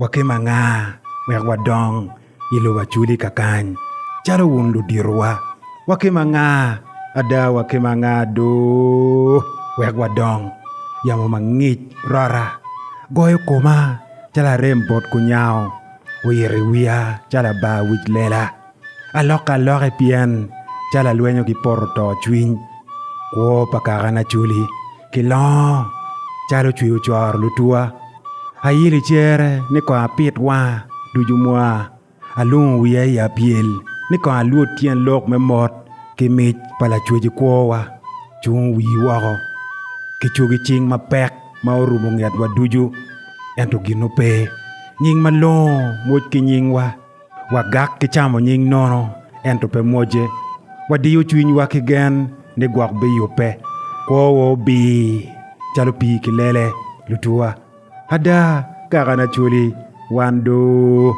Wakim anga wek wadong i lobo acudi kakany calo wun luditowa? Wakim anga, ada wakim anga do wek wadong? Yamo mangic rota goyo koma calo arem bot kunyango, oyito i wiya calo abar wic lela. Alok aloka i pien calo alwenyo ki poto to cwiny, kwo pa kaka na culi ki longo calo cwi ocoro lutwa. Ayilo i cere ni kong apit wanga ducu mwa, alungo wiya i apyel ni kong alwod tyen lok me mot ki mic pa Lacwec i kwowa. Cung wii woko ki cogi cing mapek ma orumo ngetwa ducu, ento gin ope. Nying malongo moc ki nyingwa. Wagak ki camo nying nono, ento pe mocce. Wadiyo cwinywa ki gen ni gwok biyubbe. Kwowa obir calo pii ki lele. Lutuwa, Ada, kaka na culi wan do!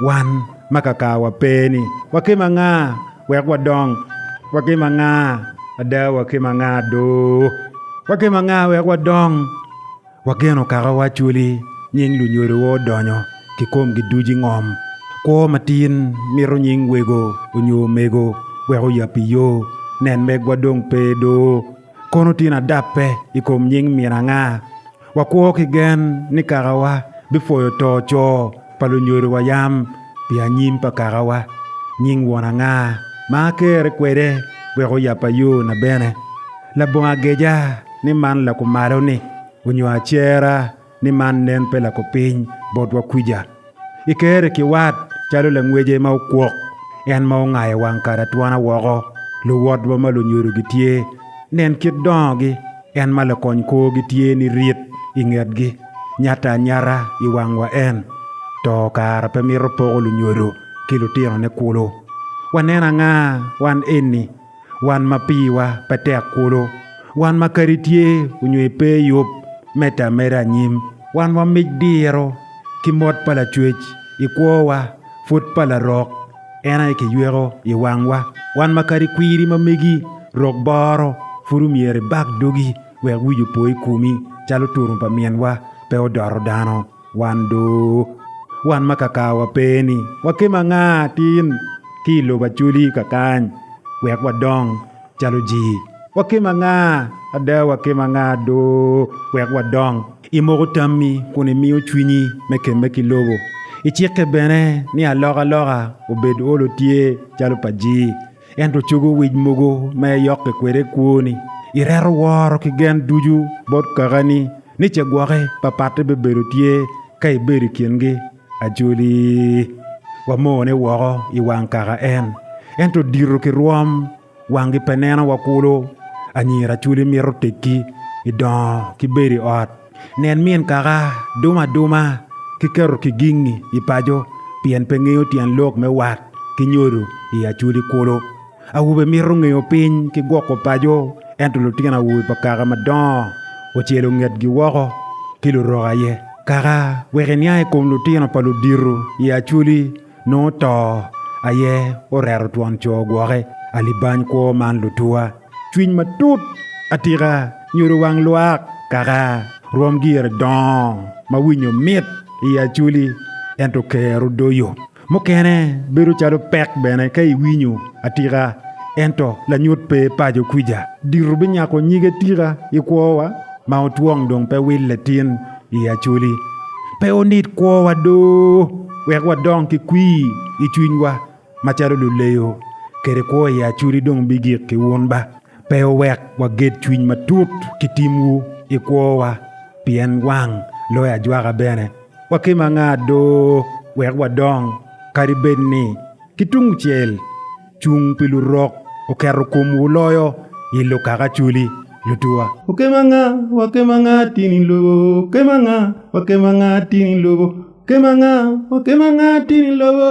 Wan ma kakawa pe-ni, wakim anga wek wadong? Wakim anga, ada, wakim anga do? Wakim anga wek wadong? Wageno kaka wacwali nying lunyodowa odonyo kikomgi ducu i ngom. Kwo matin mito nying wego onyo omego wek oyab i yo. Nen megwa dong pe doo. Kono tin adape i kom nying min anga? Wakwo ki gen ni kakawa bipwoyo to coo. pa lunyodowa yam pi anyim pa kakawa, nying won anga ma akerre kwede wek oyabba yona bene? Labongo ageca ni man lakumalo-ni, onyo acera ni man nen pe lakupiny botwa kwica? I kerre ki wat calo langwece ma okwok, en ma ongayo wang kare atwana woko, luwotwa ma lunyodo gitye, nen kit dongogi. En ma lakony kwogi tye ni rit i ngetgi, nyata anyata i wangwa en. To kara pe mito poko lunyodo ki lutinone kulu. Wanen anga wan eni, wan ma piwa pe tek kulu, wan ma kadi tye onyo epe yub medde ameda anyim, wan wamic diro ki mot pa lacwec i kwowa pud pa larok, En aye kiyweko i wangwa. Wan ma kadi kwiri ma megi rok boro, pud omyero ibak dogi wek wic opo i komi calo turum pa minwa pe odoto dano. Wan do, wan ma kakawa pe-ni, wakema anga atin ki i lobo Acoli kakany wek wadong? Calo jii, wakim anga, ada wakim anga do wek wadong? Imoko tammi kun imiyo cwinyi me kemme ki lobo. Icikke bene ni alokaloka obed olo tye calo pa jii, ento cogo wic mogo ma iyokke kwede kwoni. Ireto woro ki gen ducu bot kakani ni cegwoki papatte bibedo tye ka ibedo i kingi. Ajoli, wamone woko i wang kaka en, ento dito ki rwom wangi pe neno wa kulu. Anyira Acoli mito teggi i dongo ki bedo i ot. Nen min kaka dumo aduma ki keto kigingi i paco pien pe ngeyo tyen lok me wat ki nyodo i Acoli kulu. Awobe mito ngeyo piny ki gwoko paco, ento lutino awobe pa kaka madongo ocelo ngetgi woko ki lurok aye. Kaka wek eniang i kom lutino pa ludito i Acholi nongo to aye oreto twon co gwoke. Alibany kwo man lutuwa. Cwiny matut atika nyodo wang lwak kaka rwom gire dongo ma winyo mit i Acholi ento kero doyo. Mukene bedo calo pek bene ka iwinyo atika ento lanyut pe paco kwica. Dito binyako nyige tika i kwowa ma otwong dong pe wille tin i acoli. Pe onit kwowa do wek wadong ki kwir i cwinywa macalo luleyo kede kwo i acoli dong bigik ki wun ba. Pe wuwek waged cwiny matut ki timwu i kwowa, pien wang loyo ajwaka bene. Wakim anga do wek wadong, kadi bed ni ki tungcel cung pi Lurok oketo komwu loyo i lukakacoli lutuwa? Wakim anga, wakim anga tin i lobo, wakim anga, wakim anga tin i lobo, wakim anga, wakim anga tin i lobo?